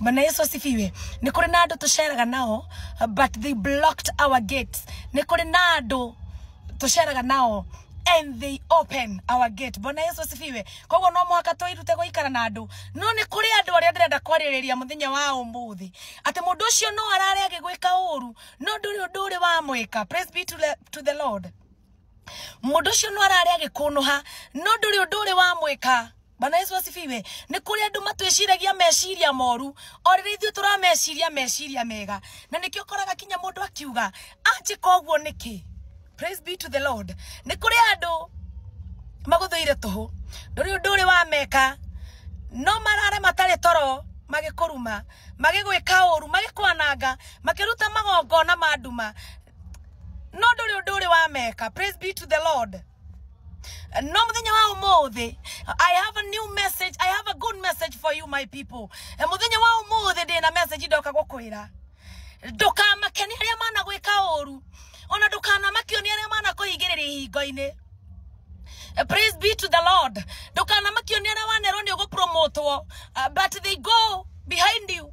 Bwana Yesu asifiwe. Nĩ kũrĩ na andũ tũceraga nao but they blocked our gates. Nĩ kũrĩ na andũ tũceraga nao and they open our gate. Bwana Yesu asifiwe. Koguo no mũhaka twĩrute gũikara na andũ. No nĩ kũrĩ andũ arĩa ndĩrenda kwarĩrĩria mũthenya wa ũmũthĩ. Atĩ mũndũ ũcio no arare agĩgwĩka ũũru no ndũrĩ ũndũ ũrĩ wamwĩka. Praise be to the, to the Lord. mundu ucio no arari agikunuha no nduri undu uri wa mwika bana yesu asifiwe ni kuri andu matwiciragia meciria moru o riri ithuĩ turameciria meciria mega na nikio koraga kinya mundu akiuga anjika uguo niki praise be to the lord ni kuri andu maguthuire tuhu nduri undu uri wa meka no marare matari toro magikuruma magigwika uru magikwananga makiruta magongona ma nduma no ndũrĩ ũndũ ũrĩ wameka praise be to the lord no muthenya wa umuthi i have a new message i have a good message for you my people Eh, muthenya wa umuthi ndĩ na message ndoka gũkwĩra ndũkamake nĩ arĩa managwĩka ũru ona ndũkanamakio nĩ arĩa manakũhingĩrĩria ihingo-inĩ Uh, praise be to the lord ndũkanamakio nĩ arĩa wanerwo nĩ ũgũpromotwo uh, but they go behind you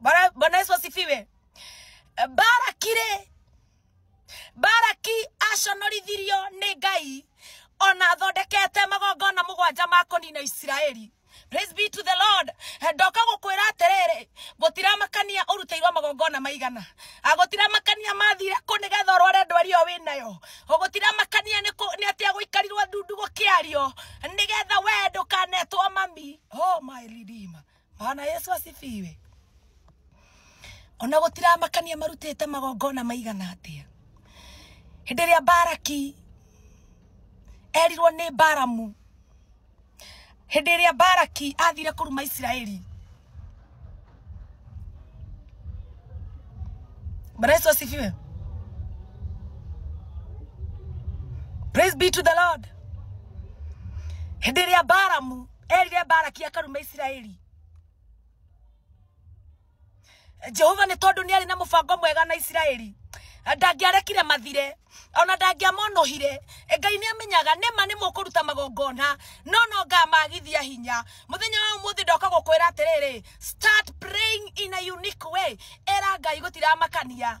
Bwana Bwana Yesu asifiwe. Barakire baraki aconorithirio nĩ ngai ona athondekete magongona mũgwanja ma kũnina isiraeli Praise be to the Lord. Ndoka gũkwĩra atĩrĩrĩ, gũtiramakania ũrutĩirwo magongona maigana. Ah, Gũtiramakania mathire kũ nĩgetha ũrware ndwari ĩyo wĩ nayo. Oh, Gũtiramakania nĩ kũ- nĩ atĩ agũikarirwo ndundu gũkĩario nĩgetha wee ndũkanetwo mami. Oh my redeemer. Bwana Yesu asifiwe. Ona gũtiramakania marutĩte magongona maigana atĩa. Hĩndĩ ĩrĩa Baraki erirwo nĩ Baramu, hĩndĩ ĩrĩa Baraki athire kũruma Isiraeli, Bwana Yesu asifiwe. Praise be to the Lord. Hĩndĩ ĩrĩa Baramu erire baraki akaruma isiraeli jehova nĩ tondũ nĩ arĩ na mũbango mwega na isiraeli ndangĩarekire mathire ona ndangĩamonohire ngai nĩ amenyaga nĩma nĩ mũkũruta magongona no no ngamagithia hinya mũthenya wa ũmũthĩ ndoka gũkwĩra atĩrĩrĩ start praying in a unique way era ngai gũtiramakania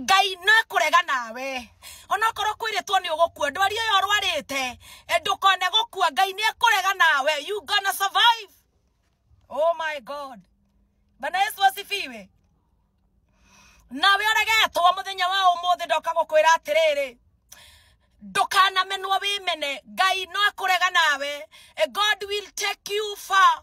ngai no kũrega nawe onokorwo kwĩrĩtwo nĩ ũgũkua ndwari ũyũ ũrwarĩte eh, ndũkone gũkua ngai nĩ ekũrega nawe you gonna survive oh my god bana yesu asifiwe nawe ũregetwo mũthenya wa ũmũthĩ ndoka gũkwĩra atĩrĩrĩ ndũkanamenwo wĩmene ngai no akũrega nawe eh, god will take you far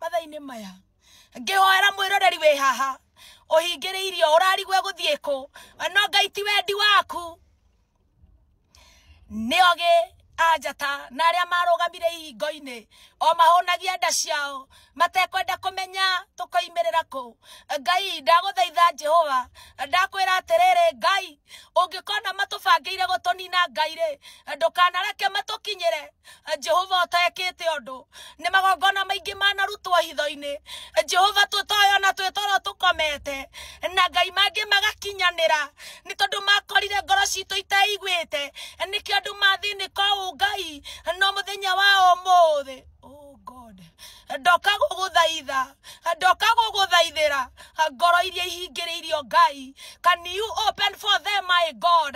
mathainĩ maya ngĩhoera mwĩroreri wĩ haha ũhingĩrĩirio ũrarigwe gũthiĩ kũ no ngai ti wendi waku nĩ ogĩ anjata na arĩa marũgamire ihingo-inĩ o mahũnagia nda ciao matekwenda kũmenya tũkoimĩrĩra kũ ngai ndagũthaitha jehova ndakwĩra atĩrĩrĩ ngai ũngĩkona matũbangĩire gũtũnina ngai rĩ ndũkanareke matũkinyĩre jehova ũtekĩte ũndũ nĩ magongona maingĩ manarutwo hitho-inĩ jehova tũtoyo na twĩ toro tũkomete na ngai mangĩ magakinyanĩra nĩ tondũ makorire ngoro citũ itaiguĩte nĩkĩo andũ mathĩnĩka ũũ ngai no mũthenya wa ũmũthĩ oh God ndoka gũgũthaitha ndoka gũgũthaithĩra ngoro iria ihingĩrĩirio ngai can you open for them my god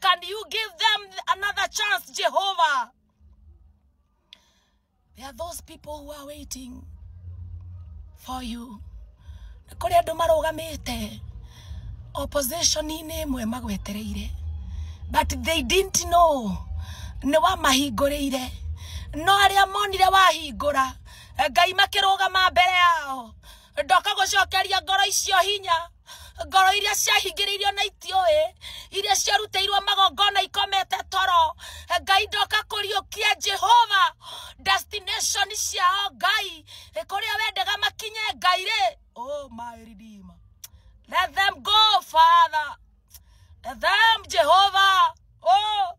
can you give them another chance jehovah there are those people who are waiting for you nĩ kũrĩ andũ marũgamĩte opposition-inĩ ĩmwe magwetereire but they didn't know nĩ wamahingũrĩire no arĩa monire wahingũra ngai makĩrũgama mbere yao ndoka gũcokeria ngoro icio hinya ngoro iria ciahingĩrĩirio na itiũĩ iria ciarutĩirwo magongona ikomete toro ngai ndoka kũriũkia jehova destination ciao ngai kũrĩa wendaga makinye ngai rĩ oh my redeemer let them go father let them jehova oh